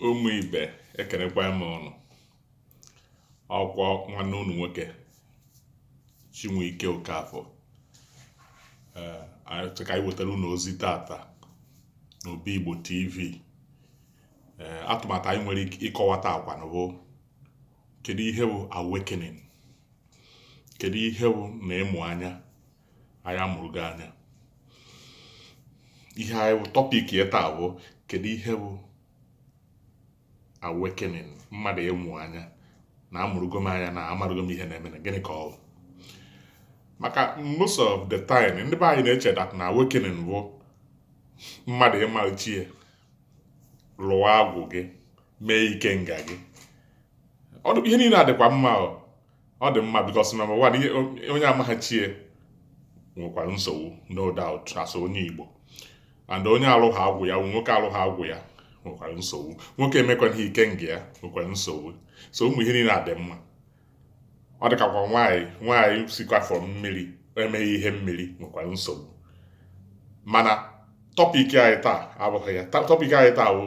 ụmụ ibe ekenekwa m ụnụ ọ kwa nwanne ụnụ nwoke Chinweike Okafọ ee anyị sị ka anyị wetara ụnụ ozi tata n'obi Igbo TV ee atụmatụ anyị nwere ike ịkọwa taa kwanụ bụ kedu ihe bụ awakening kedu ihe bụ na ịmụ anya anyị amụrụgo anya ihe bụ topic anyị taa bụ kedu ihe bụ awakening mmadụ ịmụ anya na amụrụgo m anya na amarụgo m ihe na-eme na gịnị ka ọ bụ maka most of the time ndị be anyị na-eche that na awakening bụ mmadụ ịma chi ya lụwa agwụ gị mee ikenga gị ụmụ ihe niile a dịkwa mma ọ dị mma because number one ihe onye amaghị chi ya nwekwara nsogbu no doubt as onye Igbo and onye alụghị agwụ ya nwoke alụghị agwụ ya nwekwara nsogbu nwoke emekwana ihe ikenga ya nwekwara nsogbu so ụmụ ihe niile a dị mma ọ dịkakwa nwaanyị nwaanyị sikwa afọ mmiri emeghị ihe mmiri nwekwara nsogbu mana topic anyị taa abụghị ya topic anyị taa bụ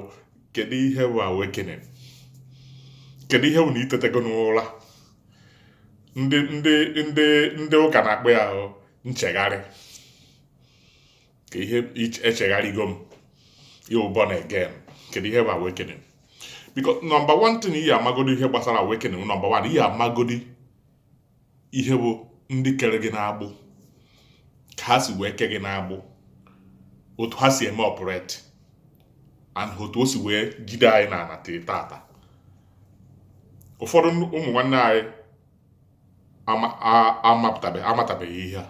kedu ihe bụ awakening kedu ihe bụ na i tetego n'ụra ndị ndị ndị ndị ụka na-akpọ ya ahụ nchegharị ka ihe echegharịgo m ịwụ born again kedu ihe bụ awakening because number one thing ị ya-amagodi ihe gbasara awakening number one ị ya-amagodi ihe bụ ndị kere gị n'agbụ ka ha si wee ke gị n'agbụ otu ha si eme operate and otu o si wee jide anyị na ana tata ụfọdụ ụmụ nwanne anyị amatabeghị ihe a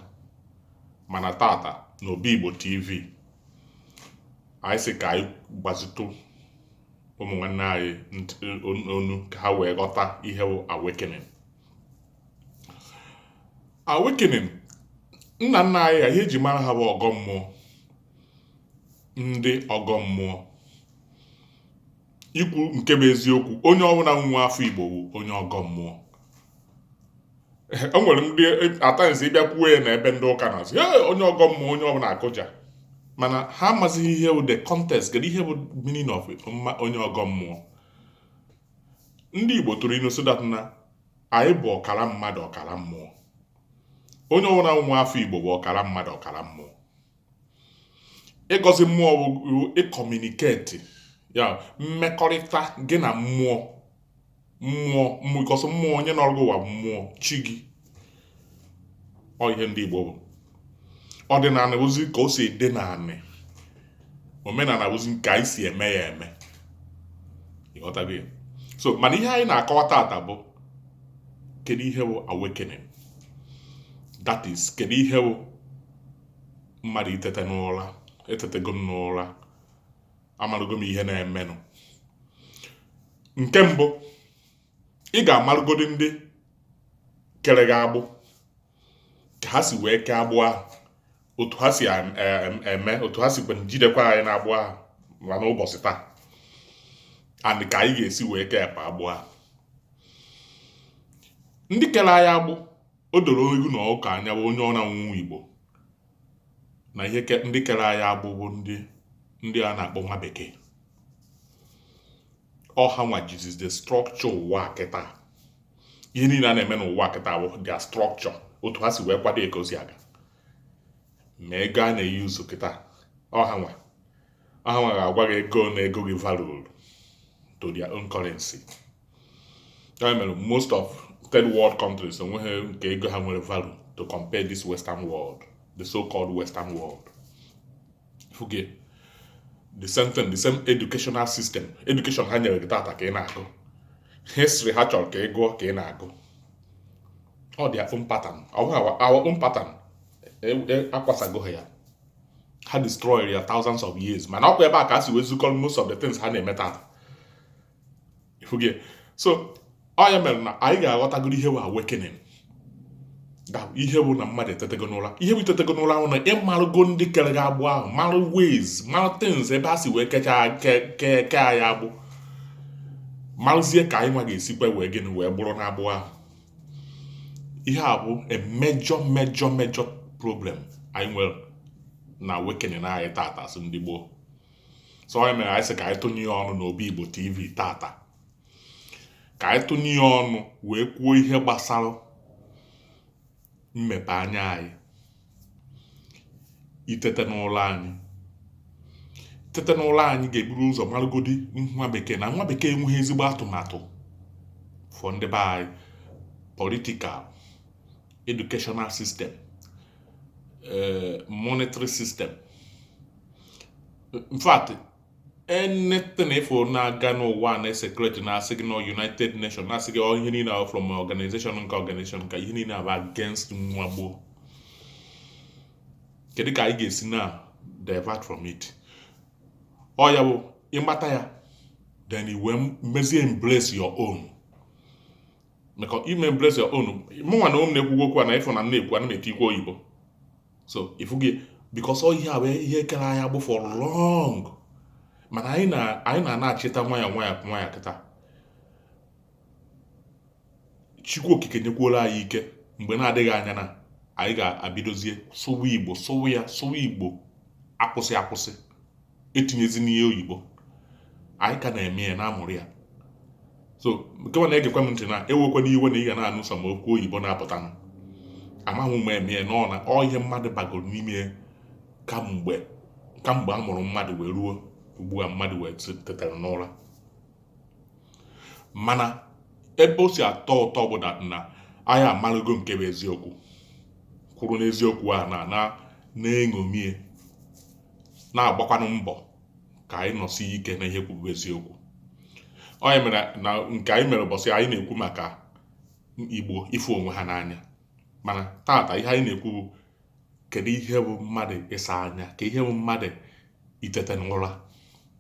mana tata na obi Igbo TV anyị sị ka anyị gbazitụ ụmụ nwanne anyị ọnụ ka ha wee ghọta ihe bụ awakening awakening nna nna anyị ha ihe eji mara ha bụ ọgọ mmụọ ndị ọgọ mmụọ ikwu nke bụ eziokwu onye ọbụla nwa afọ Igbo bụ onye ọgọ mmụọ o nwere ndị at times ị bịa kwuo ya na ebe ndị ụka na-asị ya onye ọgọ mmụọ onye ọbụla akụja mana ha amazighị ihe bụ the context kedu ihe bụ meaning of mma onye ọgọ mmụọ ndị Igbo tụrụ inu sị that na anyị bụ ọkara mmadụ ọkara mmụọ onye ọbụla nwa afọ Igbo bụ ọkara mmadụ ọkara mmụọ ịgọzi mmụọ bụ ịcommunicate ya mmekọrịta gị na mmụọ mmụọ mmụkọsị mmụọ onye nọrọ gị ụwa mmụọ chi gị ọ ihe ndị Igbo bụ ọdịnanị bụzi ka o si dị n'anị omenanị bụzi ka anyị si eme ya eme ị ghọtago ya so mana ihe anyị na-akọwa tata bụ kedu ihe bụ awakening that is kedu ihe bụ mmadụ itete n'ụla etetego m n'ụla amarụgo m ihe na-emenụ nke mbụ ị ga-amarụgodi ndị kere gị agbụ ka ha si wee kee agbụ ahụ otu ha si eme otu ha si kwe jidekwa anyị n'agbụ ahụ ma n'ụbọchị taa and ka anyị ga-esi wee kepụ agbụ ahụ ndị kere anyị agbụ O doro ewu na ọkụkọ anya bụ onye ọbụna bụ Igbo na ihe ke- ndị kere anyị agbụ bụ ndị ndị a na-akpọ nwa bekee ọ ha nwa jizi the structure ụwa a kịta ihe niile a na-eme n'ụwa kịta bụ their structure otu ha si wee kwado ya ka o si aga ma ego a na-e use kịta ọ ha nwa ha nwa ga-agwa gị ego one ego gị value to their own currency ya mere most of third world countries enweghị nke ego ha nwere value to compare this western world the so-called western world ị fụgo ya the same thing the same educational system education ha nyere gị tata ka ị na-agụ history ha chọrọ ka ị gụọ ka ị na-agụ ọ their own pattern our own pattern e, e, akwasago ha ya ha destroyed ya thousands of years mana ọ kwa ebe a ka a si wee zukọrọ most of the things ha na-eme tata ị fụgo ya so ọ ya mere na anyị ga-aghọtagoro ihe bụ awakening ihe bụ na mmadụ etetego n'ụla ihe bụ itetego n'ụla ahụ na ị marụgo ndị kere gị agbụ ahụ marụ ways marụ things ebe a si wee kechaa keke anyị agbụ marụzie ka anyị nwa ga-esikwa wee gịnị wee gbụrụ n'agbụ ahụ ihe a bụ a major major major problem anyị nwere na awakening anyị tata as ndị Igbo so ọ ya mere anyị sị ka anyị tụnye ya ọnụ n'obi igbo tv tata ka anyị tụnye ya ọnụ wee kwuo ihe gbasara mmepe anya anyị itete n'ụla anyị tete n'ụla anyị ga-eburu ụzọ marụgodi nwa bekee na nwa bekee enweghị ezigbo atụmatụ for ndị be anyị political educational system eh, monetary system in fact anything ife na-aga n'ụwa na secret na asị gị na united nation na asị gị ọ ihe niile from organization nke organization ka ihe niile abụ against nwa igbo kedu ka anyị ga-esi na divert from it ọ ya bụ ịmata ya then i wee mezie embrace your own maka i mee embrace your own mụnwa na ụmụ na-ekwugwo okwu a na ịfụ na m na-ekwu ana m etinyekwu oyibo so ị fụgo because ọ ihe a bụ ihe kere anyị agbụ for long mana anyị na anyị na-anachịta nwayọ nwayọ nwayọ kịta chukwu okike nyekwuola anyị ike mgbe na-adịghị anya na anyị ga-abidozie sụwa igbo sụwa ya sụwa igbo akwụsị akwụsị etinyezina oyibo anyị ka na-eme ya na-amụrụ ya so nke nwa na-egekwa m ntị na ewekwana iwe na ị ga na-anụ some okwu oyibo na-apụta m amaghị m eme ya n'ọ na ọ ihe mmadụ bagoro n'ime ya kamgbe kamgbe a mụrụ mmadụ wee ruo ugbu a mmadụ wee tetara n'ụra mana ebe o si atọ ụtọ bụ that na anyị amarụgo nke bụ eziokwu kwụrụ n'eziokwu a na na na-eṅomie na-agbakwanụ mbọ ka anyị nọsi ike na ihe nke bụ eziokwu ọ ya mere na nke anyị mere ụbọchị anyị na-ekwu maka igbo ịfụ onwe ha n'anya mana tata ihe anyị na-ekwu bụ kedu ihe bụ mmadụ ịsa anya ka ihe bụ mmadụ itete n'ụra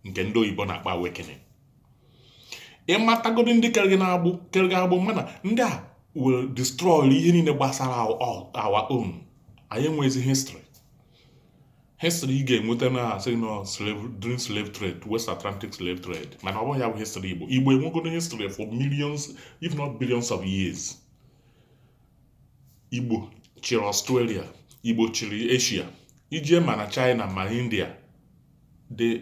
nke ndị oyibo na-akpọ awakening ịmatagodi ndị kere gị n'agbụ kere gị agbụ mana ndị a will destroy ihe niile gbasara our own anyị enweghịzi history history ị ga-enweta na asị na ọ during slave trade west atlantic slave trade mana ọ bụghị ya bụ history igbo igbo enwego history for millions if not billions of years igbo chịrị australia igbo chịrị asia i jee ma na china ma india the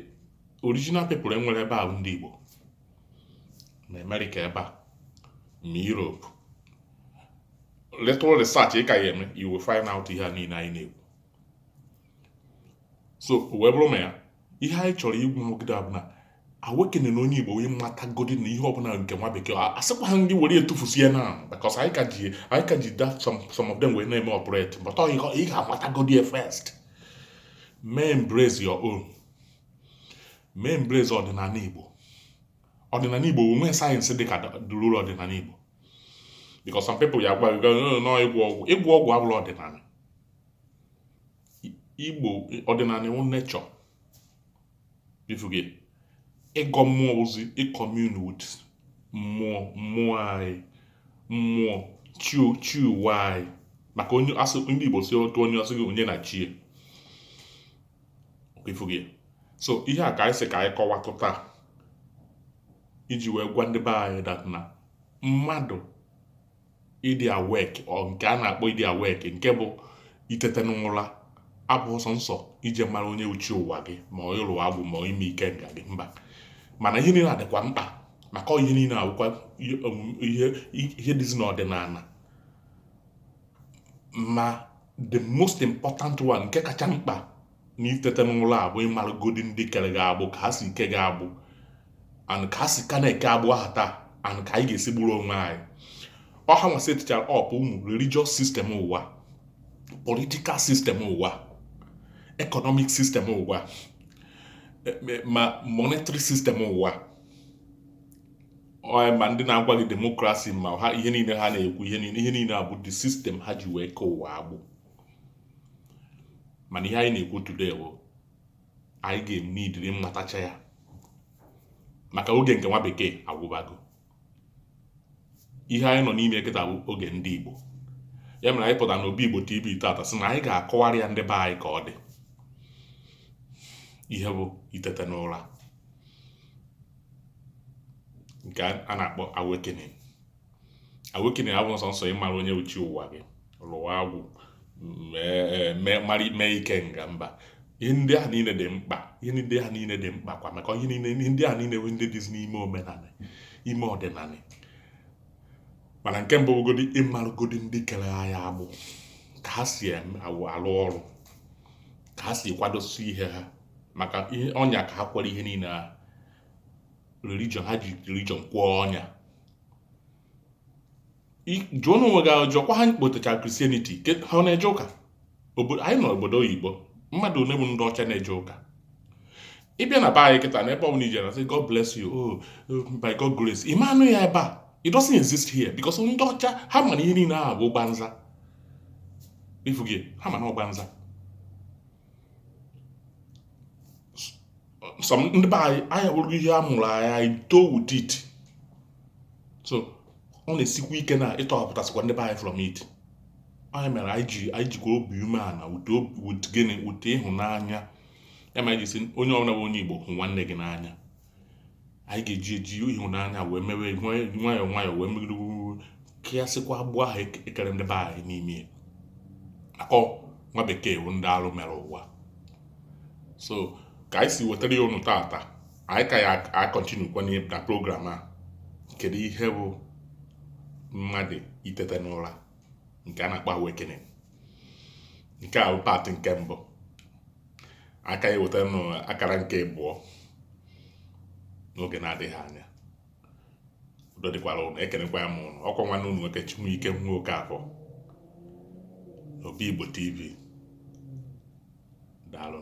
original people e nwere ebe ahụ ndị igbo ma america ebe a ma europe little research ị ka ya eme you will find out ihe a niile anyị na-ekwu so wee bụrụ ma ya ihe anyị chọrọ ikwu nwogide bụ na awakening na onye igbo onye matagodi na ihe ọbụla nke nwa bekee asịkwa ha ndị were etufusie na because anyị ka ji anyị ka ji that some some of them wee na-eme operate but ọ ị ga-amatagodi ya first mee embrace your own mee embrace ọdịnala igbo ọdịnala igbo o nwe science dị ka dụrụrụ ọdịnala igbo because some people ya gwa gị na ọ ịgwọ ọgwụ ịgwọ ọgwụ abụrọ ọdịnala igbo ọdịnala wụ nature ị fụgo ịgọ mmụọ ozi ị commune with mmụọ mmụọ anyị mmụọ chi ụwa anyị maka onye asị ndị igbo si otu onye ọ sị gị onye na chi ya ị fụgo so ihe a ka anyị sị ka anyị kọwatụ taa iji wee gwa ndị be anyị that na mmadụ ịdị awake or nke a na-akpọ ịdị awake nke bụ itete n'ụra abụghị sọ nsọ ije mara onye wụ chi ụwa gị ma ọ ịlụ agwụ ma ọ ime ikenga gị mba mana ihe niile a dịkwa mkpa maka ọ ihe niile a wụkwa ihe um, ihe ihe dịzi n'ọdịnala ma the most important one nke kacha mkpa na itete n'ụra a bụ ịmaragodi ndị kere gị agbụ ka ha si kee gị agbụ and ka ha si ka na-eke agbụ ahụ taa and ka anyị ga-esi gburu onwe anyị ọ hanwa setichara up ụmụ religious system ụwa political system ụwa economic system ụwa e, e, ma monetary system ụwa ma ndị na-agwa gị demokrasi ma ha ihe niile ha na-ekwu ihe niile ihe niile a bụ the system ha ji wee kee ụwa agbụ mana ihe anyị na-ekwu today bụ anyị ga-eme idiri mmatacha ya maka oge nke nwa bekee agwụbago ihe anyị nọ n'ime kịta bụ oge ndị Igbo ya mere anyị pụtara n'obi Igbo TV tata sị na anyị ga-akọwara ya ndị be anyị ka ọ dị ihe bụ itete n'ụra nke a na-akpọ awakening awakening abụghị sọ nsọ ịmara onye wụ chi ụwa gị lụọ agwụ mee ikenga mba ihe ndị ahụ niile dị mkpa ihe ndị ahụ niile dị mkpa kwa maka ihe niile ihe ndị ahụ niile bụ ndị dịzi n'ime omenala ime ọdịnala mana nke mbụ bụgodi ịmaragodi ndị kere anyị agbụ ka ha si alụ ọrụ ka ha si kwadosi ihe ha maka ihe ọnya ka ha kwere ihe niile ahụ religion ha ji religion kwee ọnya jụọnụ onwe gị ajụjụ kwa ha kpọtechara Christianity ha ọ na-eje ụka anyị nọ obodo oyibo mmadụ ole bụ ndị ọcha na-eje ụka ị bịa na be anyị kịta na ebe ọ bụla i je a na-asị God bless you oh by God grace ị ma anụ ya ebe a it doesn't exist here because ndị ọcha ha ma na ihe niile ahụ bụ gbanza ị fụgo ha ma na ọ gbanza so ndị be anyị anyị bụrụ ihe a mụrụ anyị anyị too with it so ọ na-esikwa ike na ịtọhapụtasịkwa ndị be anyị from it ọ ya mere anyị ji anyị jikwa obi umeala wute obi wute gịnị wute ịhụnanya ya mere anyị ji sị onye ọbụla bụ onye Igbo hụ nwanne gị n'anya anyị ga-eji eji ịhụnanya wee mewe nwayọọ nwayọọ wee megide kịasịkwa agbụ ahụ e kere ndị be anyị n'ime ya akọ nwa bekee bụ ndị alụ mere ụwa so ka anyị si wetara ya unu tata anyị ka ya-acontinue kwa na program a kedu ihe bụ mmadụ itete n'ụra nke a na-akpọ awakening nke a bụ part nke mbụ a ka ya-eweta ụnụ akara nke abụọ n'oge na-adịghị anya udo dịkwara ụnụ ekenekwaa m ụnụ ọkwa nwanne ụnụ nwoke Chibuike nwa Okafor n'Obi Igbo TV daalụ